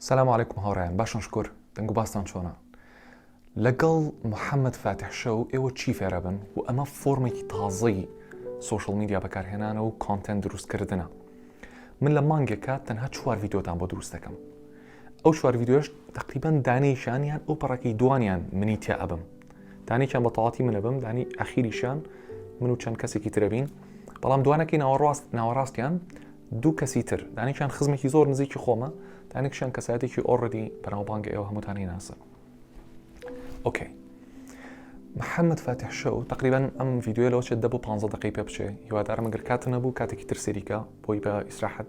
سلام عیکم هاوڕیان باشن شکر دەنگ و باستان چۆنا لەگەڵ محەممەد فاتحشە و ئێوە چی فێرەبن و ئەمە فۆرمێکی تازەی سوشل میدیا بەکارهێنانە و کۆنتەن دروستکردنە من لە مانگێکە تەنها چوار یددیۆتان بۆ دروست دەکەم ئەو چوار ڤیدیۆش تقریبان دانەی شان یان ئەو پەڕەکەی دوانیان منی تیا ئەبم دانێکیان بە تەواتی منە بم دانی ئەخیریشان من و چەند کەسێکی ترەبین بەڵام دوانەکەی ناوەڕاست ناوەڕاستیان دوو کەسی تر دانێکیان خزمێکی زۆر نزیکی خۆمە دانێکشان کەساتێکی ئۆڕدی بەناوبانگە ئێوە هەمووتانی ناسن ئۆکەی محەممەد فاتح شەو تقریبان ئەم یددیوە لەەوە چێت دە بۆ 15 دقی پێ بچێ هیوادارم گەر کات نەبوو کاتێکی تر سەریکە بۆی بە ئیسراحەت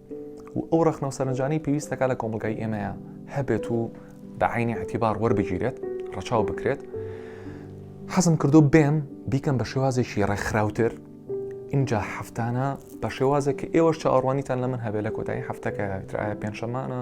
و ئەو ڕخنە و سەرنجانەی پێویستەکە لە کۆمەلگای ئێمەیە هەبێت و بە عینی عتیبار وەربگیرێت ڕەچاو بکرێت حەزم کردو بێم بیکەم بە شێوازێکی ڕێکخراوتر اینجا هەفتانە بە شێوازێک کە ئێوەش چاوەڕوانیتان لە من هەبێ لە کۆتایی هەفتەکە ترایە پێنجشەمانە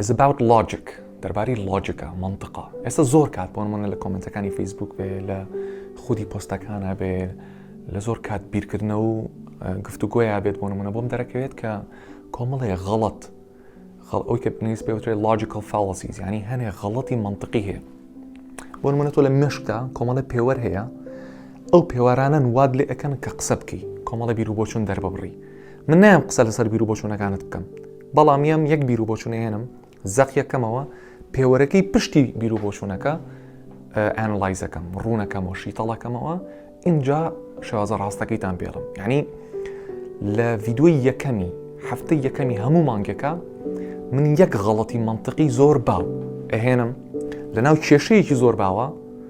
Is about logic دەربارەی لۆجیکە منطقە ئێستا زۆر کات بۆ نمونە لە کۆمنتەکانی فەیسبوک بێ لە خودی پۆستەکانە بێ لە زۆر کات بیرکردنە و گفتوگۆیا بێت بۆ نمونە بۆم دەرەکەوێت کە کۆمەڵێ غەڵت خەڵ ئەوی کە پێنویست پێوترێت لۆجیکل فاڵسیز ینی هەنێ غەڵەتی منطقی هەیە بۆ منە تۆ لە مشکدا کۆمەڵە پێوەەر هەیە ئەو پێوارانن واد لێ ئەەکەن کە قسە بکەی کۆمەڵە بیر و بۆچون دەرببڕی من نام قسە لەسەر بیر و بۆچوونەکانت بکەم بەڵام یەم یەک بیرو بۆچونەهێنم زەق یەکەمەوە پێوەرەکەی پشتی بیرو بۆچوونەکە ئەنلایزەکەم ڕوونەکەمەوە شیتەڵەکەمەوە اینجا شازە ڕاستەکەیتان پێڵم یعنی لە ڤیددیوی یەکەمی هەفتە یەکەمی هەموو مانگەکە من یەک غەڵەتی منطقی زۆر باو ئەهێنم لە ناو کێشەیەکی زۆر باوە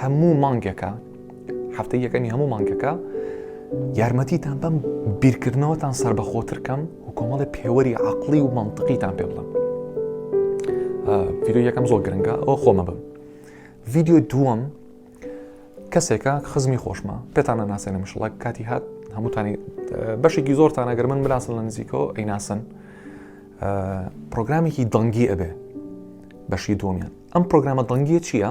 هەموو مانگێکە هەفتەی یەکەمی هەموو مانگەکە یارمەتیتان بەم بیرکردنەوەتان سربەخۆترکەم و کۆمەڵی پێوەری عقلی و منطقیتان پێ بڵم ڤیددیو یەکەم زۆر گرنگە ئەو خۆمە بم ڤیددیو دووەم کەسێکە خزمی خۆشمە پێتانە ناسێنە مشڵک کاتی هات هەمووتانی بەشێکی زۆرتان ئەگەر من بناسن لە نزیکەوە ئەیناسن پرۆگرامێکی دەنگی ئەبێ بەشی دومیان ئەم پرۆگرامە دەنگیە چییە؟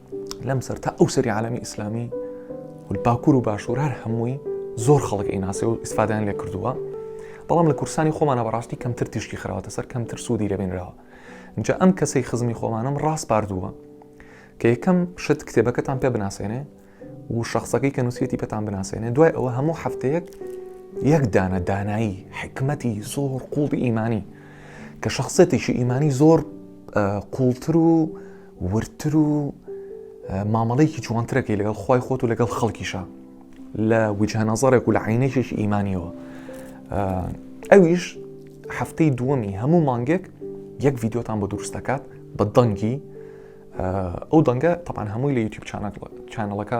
لەم سەر تا ئەو سەری عالمی ئیسلامی و باکوور و باشوور هەر هەمووی زۆر خەڵک ئیناسی و ئیسفادان لێ کردووە بەڵام لە کورسانی خۆمانە بەڕاستی کەمتر تیشکی خراوەتە سەر کەمتر سوودی لەبێنراوە جا ئەم کەسەی خزمی خۆمانم ڕاست پاردووە کە یەکەم شت کتێبەکەتان پێ بناسێنێ و شخصەکەی کە نووسەتی پێتان بناسێنێ دوای ئەوە هەموو هەفتەیەک یەک دانە دانایی حکمەتی زۆر قوڵی ئیمانی کە شخصێتیشی ئیمانی زۆر قوڵتر و وردتر و مامەڵەیەکی جوانترەکەی لەگەڵ خی خۆت و لەگەڵ خەڵکیشە لە وجهنەزارێک و لە عینێکێکی ئیمانیەوە ئەویش هەفتەی دووەمی هەموو مانگێک یەک ڤیددیوتان بۆ دروست دەکات بە دەنگی ئەو دەنگە تەپان هەمووی لە یوتیوب چانەکە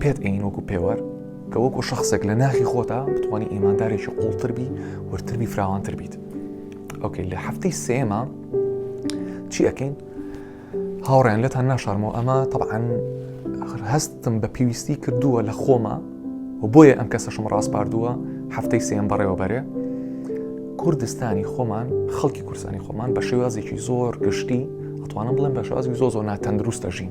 پێت ئەین وەکو پێوەر کە وەکو شخصێک لە ناخی خۆتا بتوانانی ئیماندارێکی قوڵتربی ورتربی فراوانتر بیت ئۆکەی لە هەفتەی سێمە چی ئەەکەین هاوڕێن لەتان ناشارمەوە ئەمە طبعاان هەستم بە پێویستی کردووە لە خۆمە و بۆیە ئەم کەسەشم ڕاستپاردووە هەفتەی سێم بەڕێوەبەرێ کوردستانی خۆمان خەڵکی کورسانی خۆمان بە شێوازێکی زۆر گشتی ئەتوانم بڵێن بە شازی زۆ زۆ ناتەندروستە ژین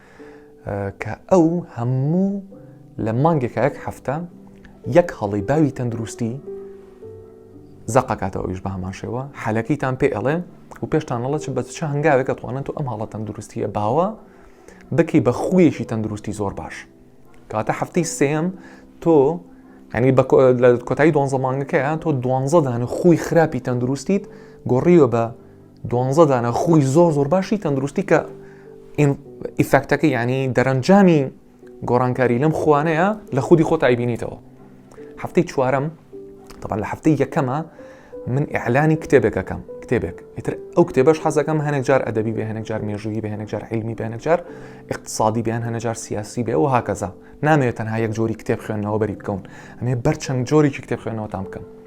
کە ئەو هەموو لە مانگێکە یەک هەفتە یەک هەڵی باوی تەندروستی زەقەکاتەوە ئەویش بە هەمان شێوە حالەکەیتان پێ ئەڵێ و پێشتان ئەڵە چ بە چ هەنگاوێکە توانن تو ئەم هەڵە تەندروستیە باوە بکی بە خویەکی تەندروستی زۆر باش کاتە هەفتەی سێم تۆ ینی لە کۆتایی دوانزە مانگەکەیان تۆ دوانزە دانە خوی خراپی تەندروستیت گۆڕیوە بە دوانزە دانە خولی زۆر زۆر باشی تەندروستی کە ئیفەکتەکە ینی دەرەنجامی گۆڕانکاری لەم خوانەیە لە خودی خۆ تایبینیتەوە هەفتەی چوارم طبعا لە هەفتەی یەکەمە من ئەعلانی کتێبێکەکەم کتێبێک ئیتر ئەو کتێبەش حەزەکەم هەنێک جار ئەدەبی بێ هەنێک جار مێژووی بێ هەنێک جار علمی بێنێک جار اقتصادی بیان هەنە جار سیاسی بێ و هاکەزا نامەوێت تەنها یەک جۆری کتێب خوێندنەوە بەری بکەون ئەمێ بەرچەند جۆرێکی کتێب خوێنەوەتان بکەم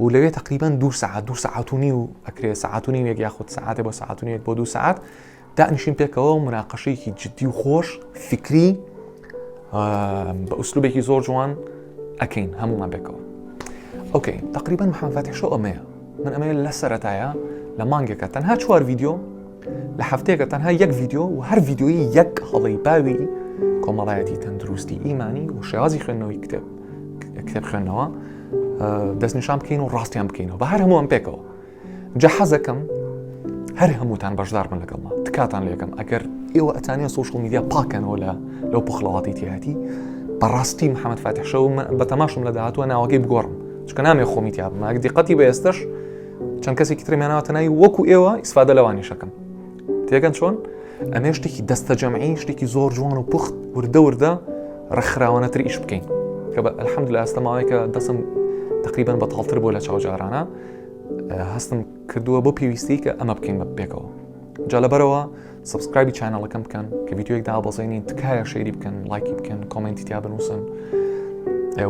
و لەوێ تقریبان دو سعات دو سعات و نیو ئەکرێ سعات و نیوێک یاخود سعاتێ بۆ سعات و نیوێک بۆ دو سعات دانیشین پێکەوە و مناقەشەیەکی جددی و خۆش فکری بە ئوسلوبێکی زۆر جوان ئەکەین هەمومان پێکەوە ئۆکەین تقریبان محەمفاتیشۆ ئەمەیە من ئەمەیە لە سەرەتایە لە مانگێکە تەنها چوار ویددیو لە هەفتەیەکە تەنها یەک ڤیددیو و هەر ڤیددیوی یەک هەڵی باوی کۆمەڵایەتی تەندروستی ئیمانی و شێوازی خوێندنەوەی کتێب کتێب خوێندنەوە دەستنیشان بکەین و ڕاستیان بکەینەوە بە هەر هەمووان پێکەوە جە حەزەکەم هەر هەمووتان بەشدار بن لەگەڵما تکاتان لەکەم ئەگەر ئێوە ئەتانە سوشل میدیا پاکەنەوە لە لەو پخڵەواتی تیاتی بەڕاستی محەممەد فاتحشەوە بە تەماشم لە داهاتوە ناوەکەی بگۆڕم چکە نامێ خۆمیتیا بماگە دیقەتی بە ئێستش چەند کەسێکی ترم یاناوەتە ناوی وەکو ئێوە ئیسفادە لەوانیشەکەم تێگەن چۆن ئەمێ شتێکی دەستە جەمعی شتێکی زۆر جوان و پوخت وردە وردە ڕخراوانەتر ئیش بکەین کە بە ئەلحەمد لە ئەستە ماوەیەکە دەسم تقریبان بە تاڵتر بۆ لە چاوجارانە هەستم کردووە بۆ پێویستی کە ئەمە بکەین بە پێکەوە جا لەبەرەوە سبسکرایبی چینەڵەکەم بکەن کە یددیوەک دابەزێنین تکایە شەیری بکەن لایکی بکەن کۆمنتی تیا بنووسن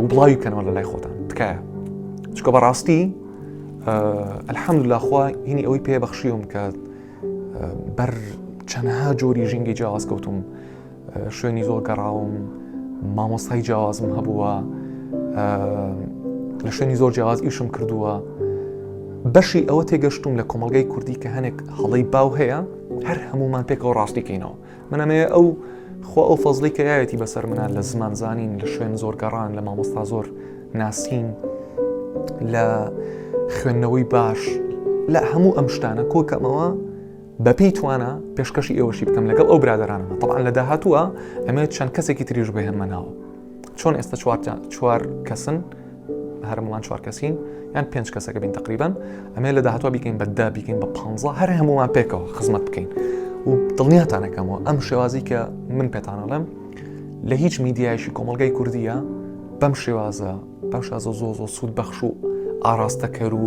و بڵاوی بکەنەوە لە لای خۆتان تکایە چکە بەڕاستی ئەلحەمد لاخوا هینی ئەوەی پێ بەخشیوم کە بەر چەندها جۆری ژینگەی جیاواز کەوتوم شوێنی زۆر گەڕاوم مامۆستای جیاوازم هەبووە لە شوێنی زۆر جیاواز ئیشم کردووە بەشی ئەوە تێگەشتوم لە کۆمەلگای کوردی کە هەنێک هەڵی باو هەیە هەر هەمومان پێکەوە ڕاستیکەینەوە منەمەیە ئەو خۆ ئەو فەزلی کە یاەتی بەسەر منە لە زمان زانین لە شوێن زۆر گەڕان لە مامۆستا زۆر ناسین لە خوێندنەوەی باش لە هەموو ئەم شتانە کۆکەمەوە بەپێی توانا پێشکەشی ئێوەشی بکەم لەگەڵ ئەو برادرانەمە طبعا لە داهاتووە ئەمەوێت چەند کەسێکی تریش بهێنمە ناوە چۆن ئێستا چوارجان چوار کەسن هەرموڵان چوار کەسین یان پێنج کەسەکە بین تقریبان ئەمێ لە داهاتوە بیکەین بەدا بیکەین بە پ هەر هەمووان پێکەوە خزمەت بکەین و دڵنیاتانەکەمەوە ئەم شێوازی کە من پێتانەڵێم لە هیچ میدیایشی کۆمەلگای کوردیە بەم شێوازە بەم شازە زۆ زۆ سوود بەخش و ئاراستەکەر و